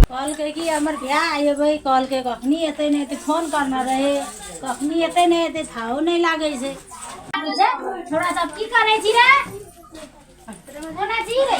कहलकै कि हमर भाय अयबै कहलकै कखनी एतै नहि एतै फोन करना रहै कखनी एतै नहि एतै थाहो नहि लागै छै थोड़ा सब की करै छी रे कोना छी रे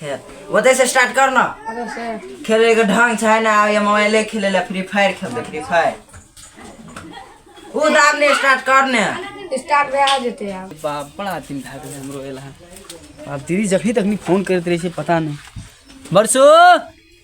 खेल ओतै से स्टार्ट कर ना अरे से खेले के ढंग छै ना आब ये मोबाइले खेले ला फ्री फायर खेलते फ्री फायर उ दाब ने स्टार्ट कर ने स्टार्ट भए आ जेतै आब बाप बड़ा आदमी भए गेलै हमरो एला आब दीदी जखनी तखनी फोन करैत रहै छै पता नहि बरसो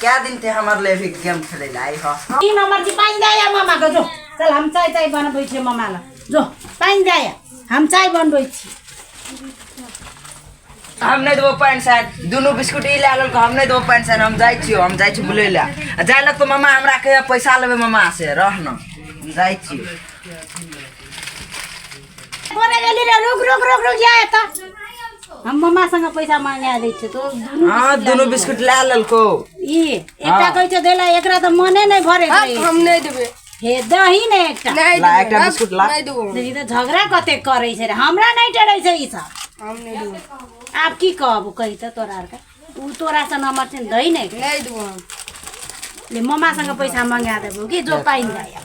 क्या दिन ते हमर ले भी गेम खेले ले आई हो ई मामा जी पानी दे या मामा के जो चल हम चाय चाय बनबै छी मामा ला जो पानी दे या हम चाय बनबै छी हम नहीं देबो पानि साइन दुनू बिस्कुट ई लागल के हम नहीं देबो पानि साइन हम जाइ छियो हम जाइ छी बुलै ले आ जाय लग तो मामा हमरा कहे पैसा लेबे मामा से रह न हम जाइ छियो बोले गेली रे रुक रुक रुक रुक जाए त हम मम्मा संग पैसा मांगा दै छै तो दुनु हाँ दोनों बिस्कुट ला ललको ई एकटा कहै छै देला एकरा त मने नै भरे छै अब हम नहीं देबे हे दही नै एकटा नहीं ला देबे एकटा अब बिस्कुट ला नहीं देबो देखी त झगड़ा कते करै छै रे हमरा नै डरै छै ई सब हम नहीं देबो आब की कहबो कहि त तोरा आरके ऊ तोरा सन हमर छै नै नै नहीं देबो हम ले मम्मा संग पैसा मांगा देबो कि जो पाइन जाए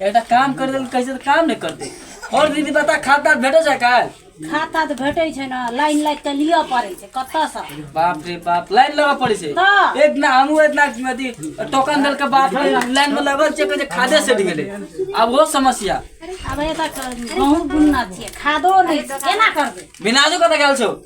एकटा काम कर देल कैसे तऽ काम नहि करते और दीदी बता खाता भेटै छै काल खाता तऽ भेटै छै ने लाइन लागि कऽ लिअ पड़ै छै कतऽसँ बाप रे बाप लाइन लगा पड़े छै तऽ। एक ना हमहू एक ना अथी टोकन देल के बाप रे लाइन में लगल छै कहै छै खादे सटि गेलै आब ओहो समस्या आब एतऽ गहूँम बुनना छियै खादो नहि छै केना करबै बिनाजो कतऽ गेल छौ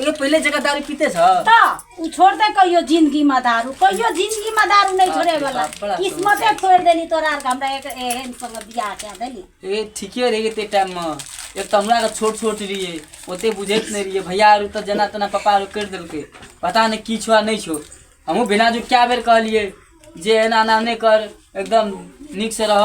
ये पहले जगह दारू पीते छ त उ छोड़ दे कहियो जिंदगी में दारू कहियो जिंदगी में दारू नहीं छोड़े वाला किस्मते छोड़ देली तोरा आर हमरा एक एहन संग बियाह के देली ए ठीके रहे ते टाइम में एक त हमरा के छोट छोट रहिए ओते बुझैत नहीं रहिए भैया आर त जना तना पापा आर कर देलके पता नहीं की छुआ नहीं छो हमहू बिना जो क्या बेर कहलिए जे एना एना नहीं कर एकदम निक से रह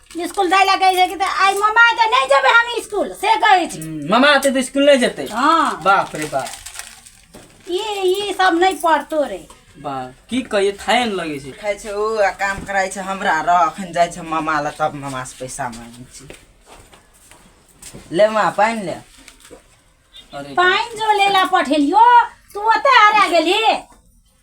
स्कूल जाय लए कहै छै कि तऽ आइ मामा तऽ नहि जेबै हम स्कूल से कहै छी हम्म, मामा आते तो स्कूल नहीं जाते हँ बाप रे बाप ई ई सब नहि पढ़तो रे बाप की कहिए थायन लगे छै खाइ छै ओ आ काम कराइ छै हमरा रह अखन जाइ छै मामा लग तब मामा से पैसा मांगै छै ले माँ पानि ले अरे पानि जो लै लए पठेलियो तू ओतऽ हरा गेली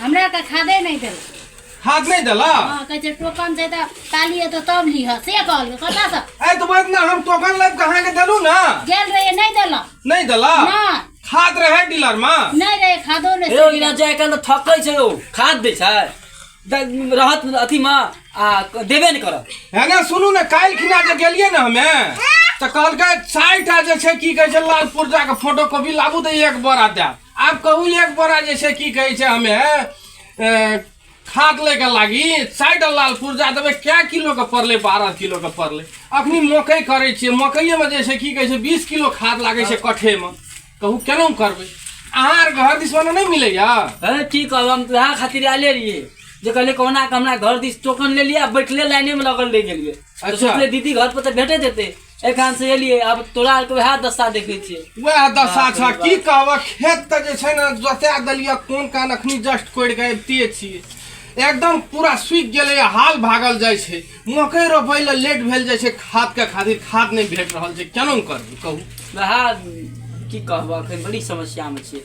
हमरा तऽ खादे नहि देल खाद नहि देला हँ कहै छै टोकन छै तऽ काली एतऽ तब लिह से कहलियै कतऽसँ आइ तऽ बोलत ना हम टोकन लाइब के अहाँके देलू ना गेल रहियै नहि देलक नहि देला नहि खाद रहे डीलर में नहि रहै खादो नहि एगो दिना जाय काल तऽ थकै छै ओ खाद दै छै द- रहत अथीमे आ क- देबे नहि करत है ना सुनू ने काल्हि खिना जे गेलियै ने हमे तऽ कहलकै साठि टा जे छै की कहै छै लाल पुर्जा के फोटो कॉपी लाबू तऽ एक बोरा देब आब कहू एक बोरा जे छै की कहै छै हमे खाद लैके लागी साइड लाल पुर्जा देबै कए किलोके पड़लै बारह किलोके पड़लै अखनी मकइ करै छियै मकइएमे जे छै की कहै छै बीस किलो खाद लागै छै कठेमे कहू केना करबै अहाँ आर घर दिस मने नहि मिलैया अरे की कहब हम वएह खातिर आले रहिए जे कहले कोना के हमरा घर दिस टोकन ले लिया बैठले लाइने में लगल रह गेलिए अच्छा। अच्छा दीदी घर पर तो भेटे देते एखन से एलियै आब तोरा आरके वएह दशा देखै छियै वएह दशा बाप रे छह की बाप। कहबह खेत तऽ जे छै ने जोता देलियै कोन कान अखनी जस्ट कोरि कऽ अबिते छियै एकदम पूरा सूखि गेलै आ हाल भागल जाइ छै मकइ रोपै लए लेट भेल जाइ छै खादके खातिर खाद नहि भेट रहल छै केना करबै कहू वएह की कहबह एखन बड़ी समस्यामे छियै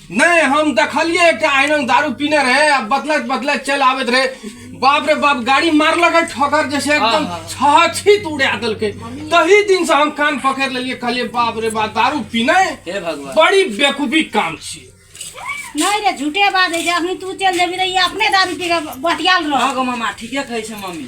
नहि हम देखलियै एकटा आइनंग दारू पीने रहे आ बतलैत बतलैत चलि आबैत रहे बाप रे बाप गाड़ी मारलक है ठोकर जे छै एकदम छहछित उड़ा देलकै तही दिन से हम कान पकड़ि लेलियै कहलियै बाप रे बाप दारू पीने हे भगवान बड़ी बेकूफी काम छियै नहीं रे झूठे बात है जे अखनी तू चल जेबी तो ये अपने दारू पी के बतियाल रह हाँ गो मामा ठीके कहै छै मम्मी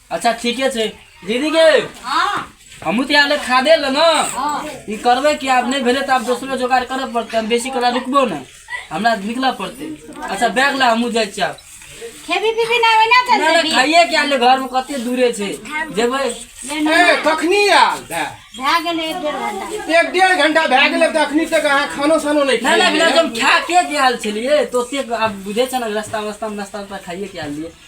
अच्छा ठीके छै दीदी गे हाँ हमहूँ तऽ आले खादे लऽ ने हाँ ई करबै कि आब नहि भेलै तऽ आब दोसरो जोगाड़ करऽ पड़तै हम बेसी कला रुकबो ने हमरा निकलऽ पड़तै अच्छा बैग ला हमहूँ जाइ छी आब खेबी पीबी ना होय ना ना ना जल्दी खाइए के आले घरमे कते दूरे छै जेबै ए कखनी आयल भए भए गेलै एक डेढ़ घंटा एक डेढ़ घंटा भए गेलै तऽ अखनी तक अहाँ खानो सानो नहि ना ना बिना खेलियै हम खा के के आयल छलियै तऽ ओतेक आब बुझै छै ने रस्ता वस्तामे नास्ता उस्ता खाइए के आयल रहियै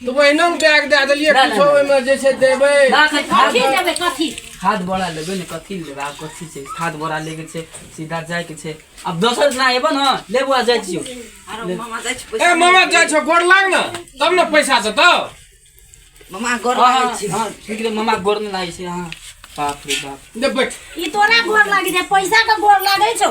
तू बहिनो बैग दे देलिए ना, ना, कुछो ना। ओइमे जे छै देबै कथी लेबै कथी खाद बोरा लेबै ने कथी लेबै आब कथी छै खाद बोरा लेके छै सीधा जायके छै अब दोसर दिना एबो ने लेबो आ जाइ छियो आरो मामा जाइ छै ए पैसा मामा जाइ छौ गोर लाग न तब न पैसा छ त मामा गोर हाँ, लागै हाँ, छै हाँ, ठीक है मामा गोर में लागे छै हाँ बाप रे बाप दे बैठ ई तोरा गोर लागे छै पैसा के गोर लागे छौ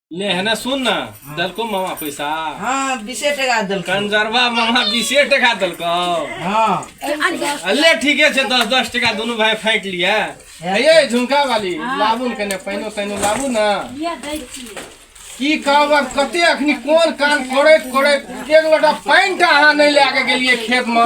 ले है ना सुन ना दलको मामा पैसा हाँ बीसे टका दल कंजरवा मामा बीसे टका दलको हाँ अल्ले ठीके छे दस दस टका दोनों भाई फेंक लिया ये झुमका वाली हाँ। लाबू न कने पैनो तैनो लाबू ना की कहब कते अखनी कोन कान करैत करैत एक लोटा पानि टा अहाँ नहीं लेके गेलिए खेत में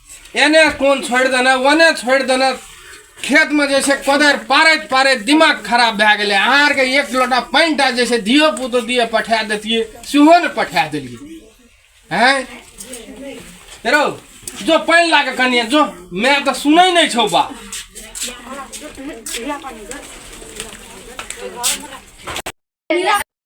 एने कोन छोड़ि देने ओने छोड़ि देने खेतमे जे छै कोदारि पारैत पारैत दिमाग खराब भए गेलै अहाँ आरके एक लोटा पानि टा जे छै धियो पुतो दिए पठा देतियै सेहो ने पठा देलियै हैं हेरो जो पानि ला कऽ कनिए जो माय तऽ सुनै नहि छौ बा